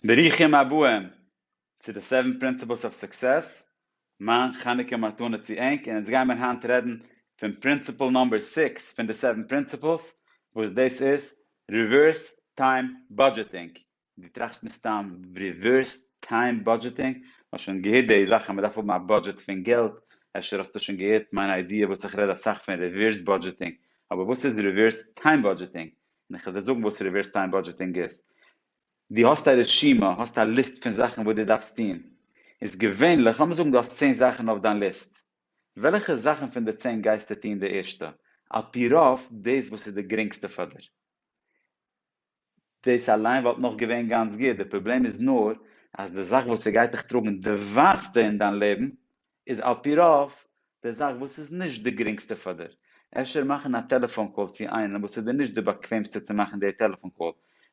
ברוכים הבאים צו די סעווען פרינציפלס אוו סוקסעס, מיין חנוכה מתנה צו ענק, און אונז גייען מיר היינט רעדן פון פרינציפל נאמבער סיקס פון די סעווען פרינציפלס, וואס דאס איז ריווערס טיים בודזשעטינג, דו טראכסט מסתם ריווערס טיים בודזשעטינג, האסט שוין געהערט די זאך אז מען דארף האבן א בודזשעט פון געלט, אפשר האסטו שוין געהערט מיין איידיע וואס איך רעד אסאך פון ריווערס בודזשעטינג, אבער וואס איז ריווערס טיים בודזשעטינג? און איך וועל דיר זאגן וואס ריווערס טיים בודזשעטינג איז. דו האסט א רשימה, האסט א ליסט פון זאכן וואס דו דארפסט טון. איז געווענליך, לאמיר זאגן דו האסט צען זאכן אויף דיין ליסט, וועלכע זאכן פון די צען גייסטו טון די ערשטע? על פי רוב דאס וואס איז די גרינגסטע פאר דיר. דאס אליין וואלט נאך געווען גאנץ גוט, די פראבלעם איז נאר אז די זאך וואס ס'גייט דיך טראגן די ווייטסטע אין דיין לעבן איז על פי רוב די זאך וואס איז נישט די גרינגסטע פאר דיר, אפשר מאכן א טעלעפאן קאל צו איינעם וואס איז דיר נישט די באקוועמסטע צו מאכן די טעלעפאן קאל,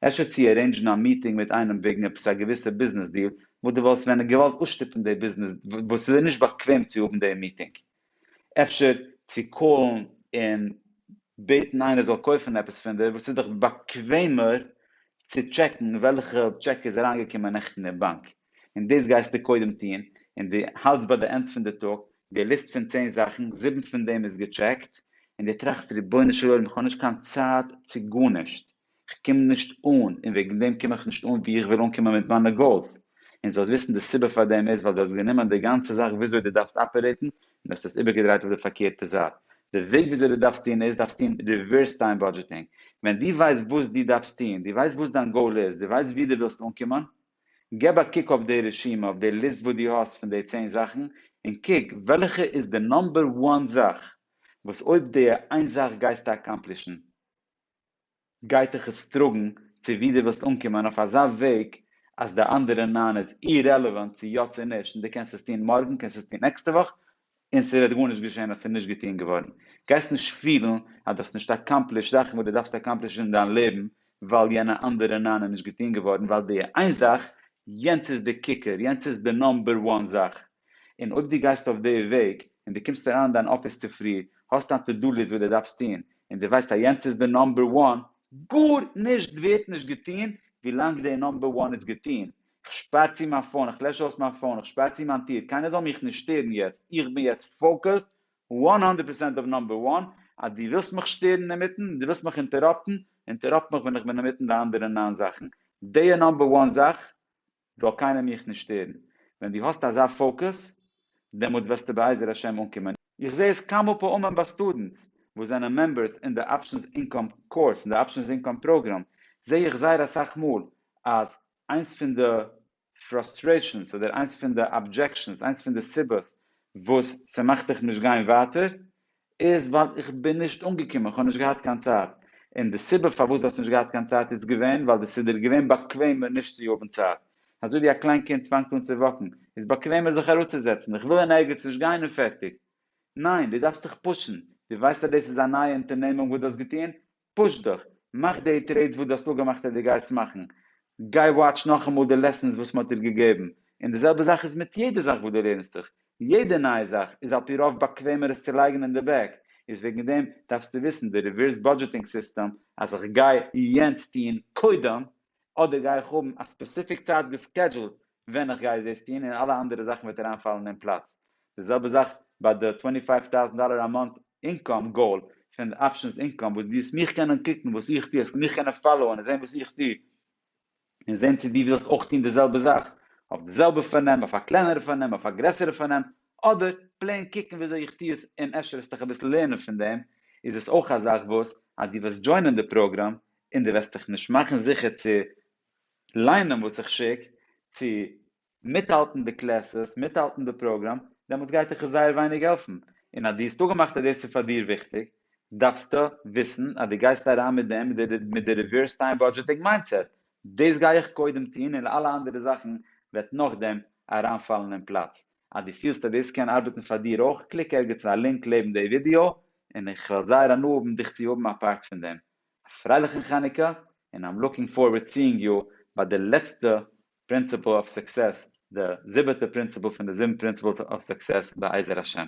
אפשר צו ארעינדזשן א מיטינג מיט איינעם וועגן עפעס א געוויסע ביזנעס דיל וואס די וואלסט ווען געוואלט אויסשטופן די ביזנעס וואס איז דיר נישט באקוועם צו האבן די מיטינג, אפשר צו קאלן און בעטן איינער זאל קויפן עפעס פון דיר וואס איז דיך באקוועמער צו טשעקן וועלכע טשעק איז אריינגעקומען נעכטן אין באנק, און דאס גייסטו קודם טון, און דו האלטסט ביי די ענד פון די טאג די ליסט פון צען זאכן, זיבן פון דעם איז געטשעקט, און דו טראכסט רבונו של עולם איך האב נישט קיין צייט צו גארנישט, איך קום נישט אן, און וועגן דעם קום איך נישט אן וואו איך וויל אנקומען מיט מיינע גאולס, און זאלסט וויסן די סיבה פאר דעם איז ווייל דו האסט גענומען די גאנצע זאך וויאזוי דו דארפסט אפערעיטן און האסט עס איבערגעדרייט אויף די פארקערטע זייט, די וועג וויאזוי דו דארפסט טון איז, דארפסט טון ריווערס טיים באדזשעטינג, ווען דו ווייסט וואס דו דארפסט טון, דו ווייסט וואס דיין גאול איז, דו ווייסט וואו דו ווילסט אנקומען, געב א קוק אויף די רשימה, אויף די ליסט וואס דו האסט פון די צען זאכן, און קוק וועלכע איז די נאמבער וואן זאך וואס אויב די איין זאך גייסטו אקאמפלישן גייטעך עס טראגן צו ווי די ווילסט אנקומען אויף אזא וועג אז די אנדערע נײַן איז אירעלעווענט צו יא צו נישט און די קענסט עס טון מארגן קענסט עס טון נעקסטע וואך און ס'וועט גארנישט געשען אז ס'איז נישט געטון געווארן, גייסט נישט פילן אז דו האסט נישט אקאמפלישט זאכן וואס דו דארפסט אקאמפלישן אין דיין לעבן ווייל יענע אנדערע ניין איז נישט געטון געווארן ווייל די איין זאך, יענץ איז די קוקער, יענץ איז די נאמבער וואן זאך. און אויב דו גייסט אויף די וועג און דו קומסט אריין אין דיין אפיס צופרי, האסט דיין טו דו ליסט וואס דו דארפסט טון, און דו ווייסט אז יענץ איז די נאמבער וואן, גארנישט ווערט נישט געטון ווילאנג די נאמבער וואן איז געטון, כ'שפאר צו מיין פאון, כ'לעש אויס מיין פאון, כ'שפאר צו מיין טיר, קיינער זאל מיך נישט שטערן יעצט, איך בין יעצט פאוקעסד וואן האנדערט פערסענט אויף נאמבער וואן, אז דו ווילסט מיך שטערן אינמיטן, דו ווילסט מיך אינטעראפטן, אינטעראפט מיך ווען איך בין אינמיטן די אנדערע נײַן זאכן, די נאמבער וואן זאך זאל קיינער מיך נישט שטערן, ווען דו האסט אזא פאוקעס דעמאלטס וועסטו בעזר השם אנקומען. איך זעה עס כמה פעמים ביי סטודענטס וואס זענען מעמבערס אין די אפשענס אינקאם קורס, אין די אפשענס אינקאם פראגראם, זעה איך זייער אסאך מאל אז איינס פון די פראסטרעישאנס אדער איינס פון די אבדזשעקשאנס, איינס פון די סיבות וואס ס'מאכט דיך נישט גיין ווייטער איז ווייל איך בין נישט אנגעקומען, כ'האב נישט געהאט קיין צייט. און די סיבה פארוואס דו האסט נישט געהאט קיין צייט איז געווען ווייל ס'איז דיר געווען באקוועמער נישט צו האבן צייט. אזוי ווי א קליין קינד פאנגט אן צו וואקן, איז באקוועמער זיך אראפצוזעצן, איך וויל אין ערגעץ נישט גיין און פערטיג. ניין, דו דארפסט דיך פושן. דו ווייסט אז דאס איז א נייע אונטערנעמונג וואס דו האסט געטון, פוש דיך, מאך די טרעידס וואס דו האסט אפגעמאכט אז דו גייסט מאכן, גיי וואטש נאכאמאל די לעסענס וואס מען האט דיר געגעבן, און די זעלבע זאך איז מיט יעדע זאך וואס דו לערנסט דיך, יעדע נייע זאך איז על פי רוב באקוועמער עס צו לייגן אין די בעק, איז וועגן דעם דארפסטו וויסן די ריווערס באדזשעטינג סיסטעם, אז איך גיי יענץ טוהן קודם, אדער גיי איך האבן א ספעסיפיק צייט געסקעדזשולט ווען איך גיי דאס טון און אלע אנדערע זאכן וועט אריינפאלן אין פלאץ. די זעלבע זאך ביי די טווענטי פייוו טאוזענט דאלער א מאנט אינקאם גאול פון די אפשענס אינקאם וואס דו וועסט מיך קענען קוקן וואס איך טו, עס וועט מיך קענען פאלאוען און זען וואס איך טו און זען צו דו ווילסט אויך טון די זעלבע זאך אויף די זעלבע פארנעם, אויף א קלענערע פארנעם, אויף א גרעסערע פארנעם, אדער פלעין קוקן ווי אזוי איך טו עס און אפשר וועסט דיך אביסל לערנען פון דעם, איז עס אויך א זאך וואס אז דו וועסט דזשוינען די פראגראם און דו וועסט דיך נישט מאכן זיכער צו ליינען וואס איך שיק צו מיטהאלטן די קלעסעס מיטהאלטן די פראגראם דעמאלטס גייט דיך עס זייער ווייניג העלפן און אז דו האסט אפגעמאכט אז דאס איז פאר דיר וויכטיג דארפסטו וויסן אז דו גייסט אריין מיט דעם מיט די ריווערס טיים באדזשעטינג מיינדסעט דאס גיי איך קודם טון און אלע אנדערע זאכן וועט נאכדעם אריינפאלן אין פלאץ אז דו פילסט אז דאס קען ארבעטן פאר דיר אויך קליק ערגעץ אין א לינק לעבן די ווידיאו און איך וועל זייער הנאה האבן דיך צו האבן א פארט פון דעם א פרייליכן חנוכה, און איים לוקינג פארווערד סיאינג יו ביי די לעצטע פרינציפל אוו סוקסעס, די זיבעטע פרינציפל פון די זיבן פרינציפלס אוו סוקסעס בעזר השם.